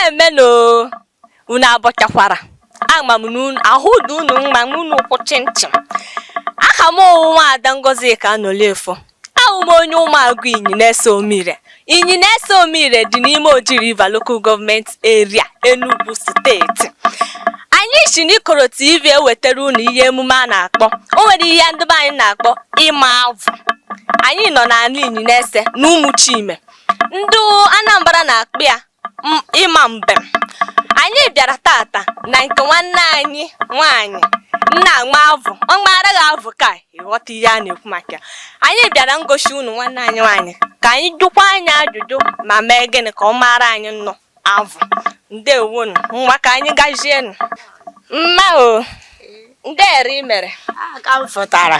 emenụ unu abọchakwara ama m na ahụ dị unu mma unu kwụ chịm chịm aha m wụ nwaada Ngozika Anolefo Awụ m onye Ụmụagụ Inyinese Omire. Inyinese Omire dị n'ime Oji River Local Government Area, Enugu steeti. Anyị si n'Ikoro TV ewetara unu ihe emume a na-akpọ o nwere ihe ndị be anyị na-akpọ ịma avụ. Anyị nọ n'ala Inyinese na Ụmụchime. Ndị Anambra na-akpọ ya ịma mbem anyị bịara tata na nke nwanne anyị nwaanyị na-ama avụ ọ maara gị avụ ka ị ghọta ihe a na-ekwu maka ya anyị bịara ngosi unu nwanne anyị nwaanyị ka anyị jụkwa nya ajụjụ ma mee gịnị ka ọ maara anyị nụ avụ ndewo nụ ngwa ka anyị gazienụ mma o ndee ere i mere a ka m fụtara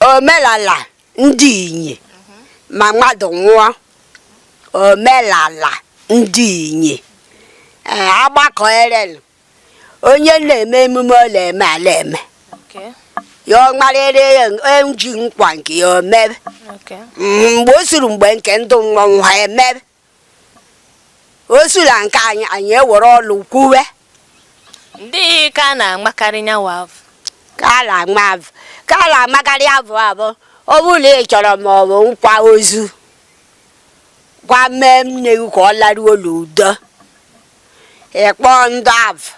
omelala ndị Inyi ma mmadụ nwụọ omelala ndị Inyi ee agbakọ erelu onye na-eme emume ọ na-eme a la-eme Okay. ya ọ marịrị ya eji nkwa nke ya o mebe Okay. Mhm, mgbe o suru mgbe nke ndụ mmọnwụ ha emebe o sula nke anyị anyị ewere ọlụ kwuwe ndee ka a na-amakarị nya wa avụ ka a na-ama avụ ka a na-amakarị avụ abụ ọ bụrụ na ị chọrọ ma ọ bụ nkwa ozu gwa mee nne gị ka ọ laruo n'udo ị kpọ ndị avụ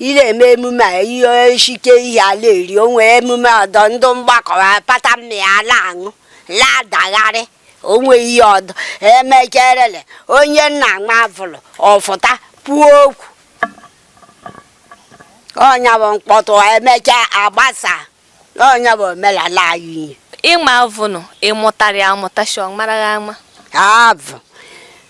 ị na-eme emume a ihe e shike ihe a la-eri o nwee emume ọdọ ndị mgbakọ ha pata mmịa a na-aṅụ na-adagharị o nwe ihe ọdọ e mecherele onye na-ama avụ nụ ọ fụta kwuo okwu ọ nya bụ mkpọtụ e mecha a gbasa ọ nya bụ omenala anyị ihe ịma avụ nụ ị mụtara ya amụta shọ mara gị ama avụ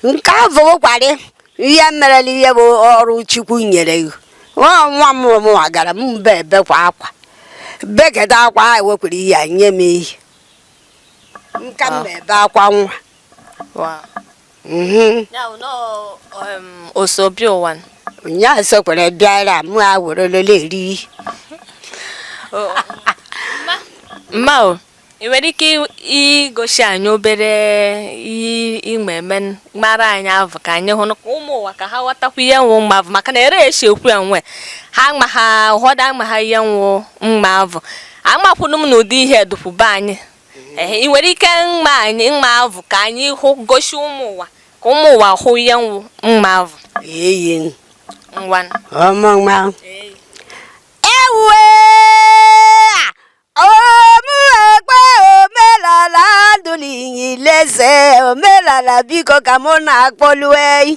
nke avụ bụkwarị ihe merela ihe bụ ọrụ chukwu nyere gị nwa nwa m mụwa gara m mbe ebekwa akwa beketa akwa ewekwere ihe a nye m ihe nka m na-ebe akwa nwa osobi ụwa nyaa sokwere bịara mụ a were lele eri mma o ị nwere ike igosi anyị obere ime eme mara anyị avụ ka anyị hụ ka ụmụ ụwa ka ha ghọtakwa ihe wụ ịma avụ maka na ere e si ekwu enwe ha ma ha ụfọdụ amaha ihe wụ ịma avụ amakwanụ m na ụdị ihe dụpụ be anyị ehe ị nwere ike mma anyị maa avụ ka anyị hụ gosi ụmụ ụwa ka ụmụ ụwa hụ ihe wụ ịma avụ eyi ngwa ọmụma ewue omuekpe omelala ndụ n'inyileze omelala biko ka mụ na-akpọlue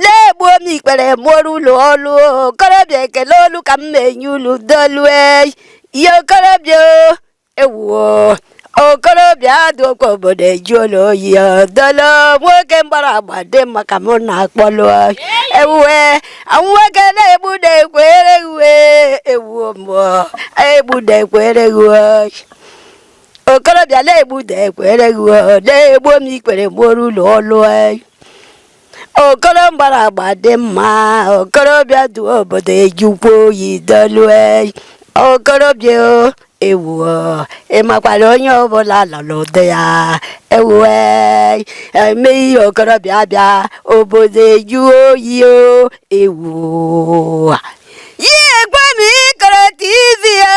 na-egbu m ikpere mụrụ ụlọ ọlụ okorobịa ekele olu ka m na-enye ulu dolue ya okorobịa o, ewuo okorobịa adụkwa obodo ejụle oyi dolo nwoke mgbara agba dị mma ka mụ na-akpọlụ ewuwe nwoke na-egbu da ekwere ghụ e ewuo mmụọ egbu da ekwere ghụ e okorobịa na-egbu da ekwere gị o, na-egbu m ikpere mụrụ ụlọ ọlụ anyị. okoro mgbara agba dị mma okorobịa dụ obodo ejụkwa oyi dolu anyị. okorobịa o, ewu o, ị makwara onye ọbụla nọ n'ụdị ya ewu anyị. eme ihe okorobịa bịa obodo ejụ oyi o ewu ya ekwe m ikoro tv ya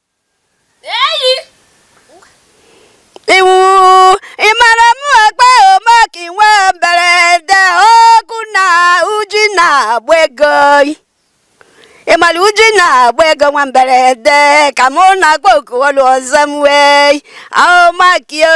iwu ịmara m akpa omaka inwe mberede ọkụ na uji na-agba ego ịmara uji na-agba ego nwa mberede ka mụ na-agba oku ọlụ ọzọ m wee aomakio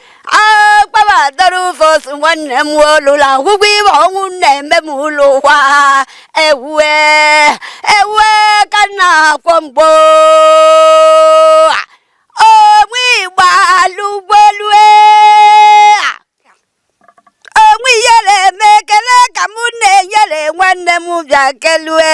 akpabatara ụfọs nwanne m olụla akwụkwọ ibe ọnwụ na-eme m ụlọ ụwa ewue ewue ka nna akwọ mgbo onwe igba alụgbolue onwe iyere eme ekele ka m na-enyere nwanne m bịa kelue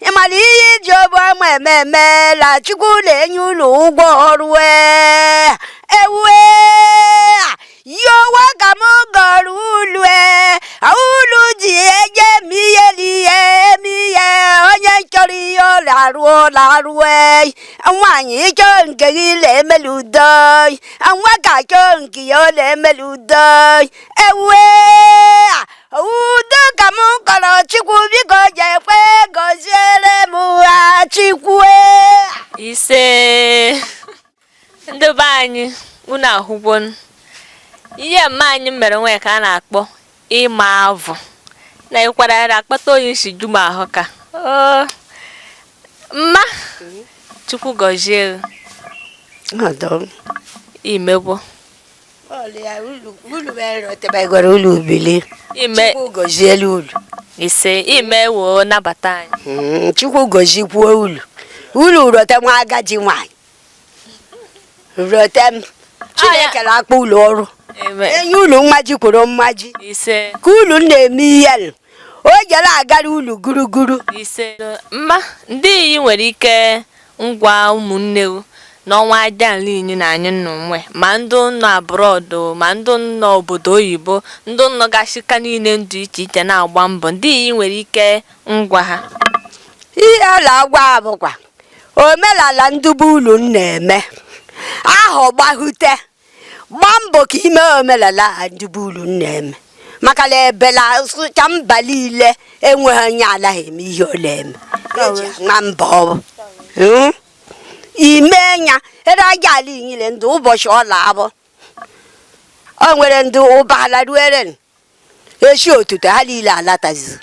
ị mara ihe iji obu ọma eme eme la chukwu na-enye ulu ụgwọ ọrụ ee ewue yowa ka m gọrọ ulu ee ulu ji eje eme ihe n'ihe eme ihe onye chọrọ ihe ọ na-arụ ọ na-arụ ee nwaanyị chọọ nke gị na-emeli udo nwoke chọọ nke ya ọ na-emeli udo ewue udo ka m kọrọ chukwu biko ji ekwe gọziere m ha chukwu ise ndị be anyị unu ahụgwo ihe mma anyị mere nwee ka a na-akpọ ịma avụ na ị kwara ya akpata oyi si ju m ahụ ka mma chukwu gọzie i megwo ise ime woo nabata anyị hmm, chukwu gozikwuo ulu ulu rote nwa agaji nwanyị rote m chineke na-akpọ ulu ọrụ enye ulu mmaji kwuru mmaji ka ulu na-eme ihe o jere agara ulu guruguru mma ndị iyi nwere ike Ngwa ụmụnne o, n'ọnwa aja ala Inyi na anyị nọ nwe, ma ndụ nọ abroad o, ma ndụ nọ obodo oyibo, ndụ nọ gasị aka niile dụ iche iche na-agba mbọ, ndị i nwere ike ịgwa ha. Ihe a na-agwa ha bụkwa omenala ndị be ulu na-eme, ahụ gbahute, gbaa mbọ ka i me omenala a ndị be ulu na-eme maka na ebela sụcha mba niile enweghị onye anaghị eme ihe ọ na-eme e ji ama mba ọ bụ Hmm? ime nya ere aja ala Inyi le ndị ụbọchị ọ na-abụ o nwere ndị ụbala ruere eshi otuto ha niile alatazi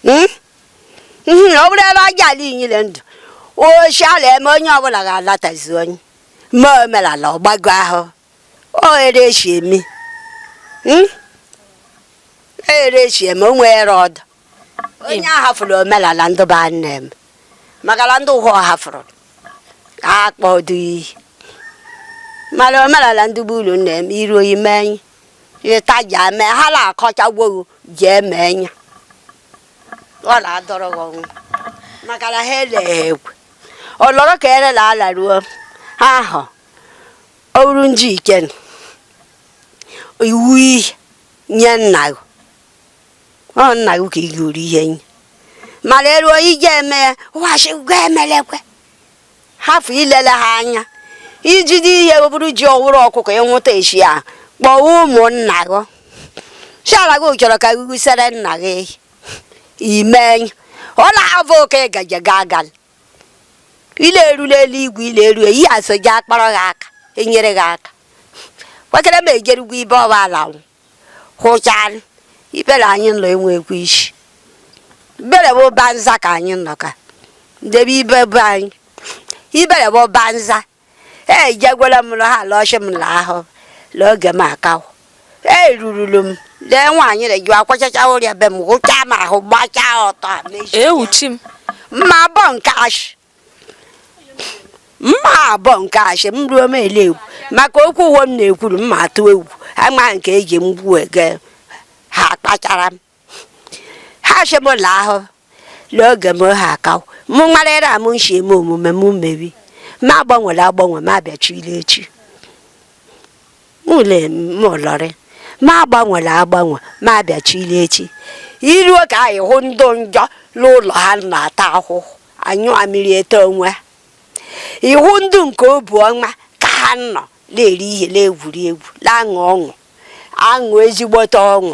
Mm? Mhm, ọ bụrụ ebe aja ala Inyi le ndụ ụbọshị a la-eme onye ọbụla ga-alatazi onye me omenala ọ gbago ahụ o ere eshi eme Mm? ere eshi eme o nwere ọdụ onye a hafụrụ omenala ndụ be ha na-eme maka na ndị ụwa ọ hafụrụ akpọdụ iyi mana omenala ndị be ulu na-eme iru oyi mee anyị ịta ji eme ha na-akọchagwo gị ji eme nya ọ na-adọrọ gị ọnwụ maka na ha eleghị ekwe ọ lọrọ ka ere na ala ruo ha ahụ ọ bụrụ nji ike nụ, iwu ihe nye nna gị ọ nna gị ka ị ga-eri ihe nye mana eruo ije eme ya wachigwa emelekwe hafụ ilele ha anya i jide ihe ọ bụrụ ji ọ wụrụ ọkụkọ ị nwụta echi a kpọọ ụmụnna gị si ha la gị chọrọ ka gụgụsere nna gị ime ọ na-abụ oke gaje gaa gal ile erula eluigwe ile eru eyi aso ji akpọrọ gị aka enyere gị aka kwekere m ejerugwu ibe ọba ala nwụ hụchara ibere anyị nọ enwekwu isi ibere bụ banza ka anyị nọ ka ndebe ibe bụ anyị ibere bụ banza ejegwela m na ha lọshị m la ahụ la oge m akaw erururu m lee nwaanyị na-eji akwachacha ụrịa be m hụchaa m ahụ gbachaa ọtọ mechie ewuchi m mma bọ nke ashị mma abụọ nke ashị m ruo m ele egwu maka okwu ụwo m na-ekwuru mma atụ egwu ama nke eji m gbuo ege ha kpachara m ha shi m la ahụ n'oge m ha aka mụ nwarịrị amụ nshi eme omume m mebi ma agbanwere agbanwe ma abịachiri echi Mụ lee m lọrị, ma agbanwela agbanwe, ma abịachila echi. Iruo ka anyị hụ ndụ njọ n'ụlọ ha na-ata ahụhụ, anyụ amịrị ete onwe ha. Ịhụ ndụ nke obu ọma ka ha nọ na-eri ihe, na-egwuri egwu, na-aṅụ ọṅụ, aṅụ ezigbote ọṅụ.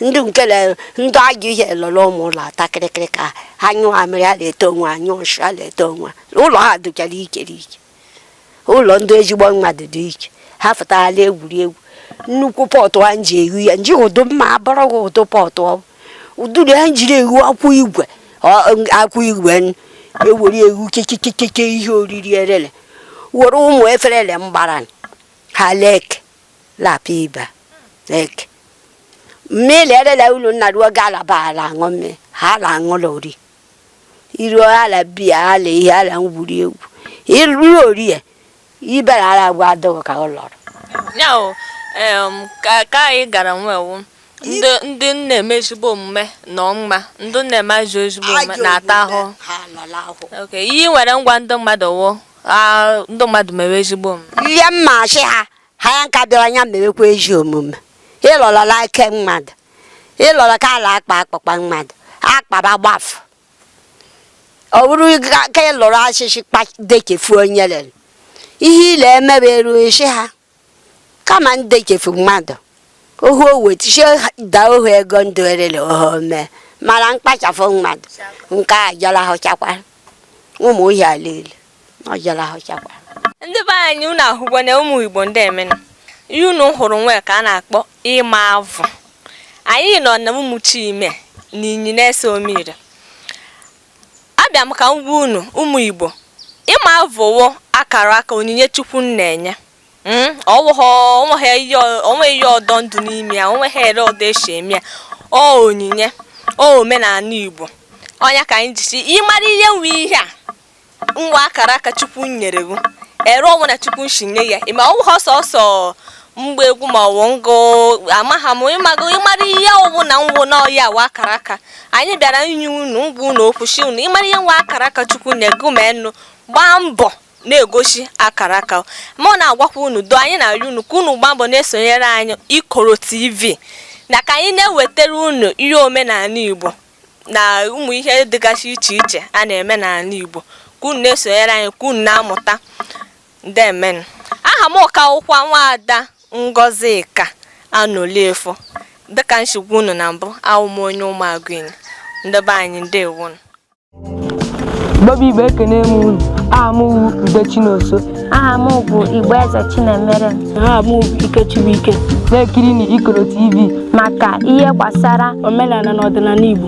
Ndụ nke na ndụ ajọ ihe lọrọ ụmụ ụlọ ata kịrịkịrị ka ha nyụọ amịrị, ha na-ete onwe ha, nyụọ nshị, ha na-ete onwe ha. Ụlọ ha dụchara ikerike. ụlọ ndị ezigbo mmadụ dị iche ha fụtaghala egwuregwu nnukwu pọtụ a nji ehu ya nji ụdụ mma abụrụ gị ụdụ pọtụ ọ ụdụrụ ya njiri ehu akwụ igwe akwụ igwe ewere ehu kekekekeke ihe oriri erele were ụmụ eferele mgbara ha lek lapụ ibe lek mmiri erele ulu nna ruo galaba ala aṅụ mmiri ha ala aṅụla ori iru ala bia ala ihe ala ngwuri egwu iru orie ibara ala gwa adọghọ ka ọ lọrọ ya o em, ka ka anyị gara nwewu ndị ndị na-eme ezigbo omume nọ mma ndị na-eme ajọ ezigbo omume Ajọ na-ata omume, ahụhụ ha anọla ahụhụ Okay, ihe ị nwere ngwa ndị mmadụ wụ ah, ndị mmadụ mewe ezigbo omume ihe mma achị ha ha ya nka bịara anya mewekwa ezi omume ịlọlọla ike mmadụ ịlọrọ ka ala akpa akpakpa mmadụ akpaba gbafụ ọ bụrụ ga- ka ịlọrọ achịchị kpa- dekefu onye lere ihe ile emebe eru isi ha kama ndekefu mmadụ ohu owetichie daa ohu ego ndụ erere ohu mee mara mkpachapụ mmadụ nke a jọrọ ahụchakwara ụmụ ihe a niile na ọ jara ahụchakwa ndị be anyị unu ahụgbo na ụmụ igbo ndemenụ ihe unu hụrụ nwee ka a na-akpọ ịma avụ anyị nọ na Ụmụchime na Inyi na-ese Omire abịa m ka m gwa unu ụmụ igbo ịma avụ wụ akara aka onyinye Chukwu na-enye Hmm? onweghị ihe ọdọ ndụ n'ime ya onweghị ere ọdọ esi eme ya ọ onyinye ọ omenala Igbo ọ ya ka anyị ji sị ịmara ihe nwe ihe a nwa akara aka Chukwu nyere gị ere ọ wụ na Chukwu nsi nye ya ịma ọ wụha sọsọ mgba egwu ma ọ wụ ngụ amaghị m ịmago ịmara ihe ọ wụ na nwụ na ọ ya wụ akara aka anyị bịara inye unu ngwa unu okwu sị unu ịmara ihe nwa akara aka Chukwu nye gị ma unu gbaa mbọ na-egosi akara aka mụ na-agwakwa unu do anyị na-arịọ unu ka unu gbaa mbọ na-esonyere anyị Ikoro TV na ka anyị na-ewetara unu ihe omenala Igbo na ụmụ ihe dịgasị iche iche a na-eme n'ala Igbo ka unu na-esonyere anyị ka unu na-amụta ndemenụ aha m ka wụkwa nwaada Ngọzika Anọliefo dịka m si gwa unu na mbụ awụ m onye Ụmụagụ Inyi nde be anyị ndewonụ Igbo bụ Igbo ekene m unu aha m wu Ude Chinoso aha m bụ Igbo Eze Chinemere aha m bụ Ike Chibuike na-ekiri na Ikoro TV maka ihe gbasara omenala na ọdịnala Igbo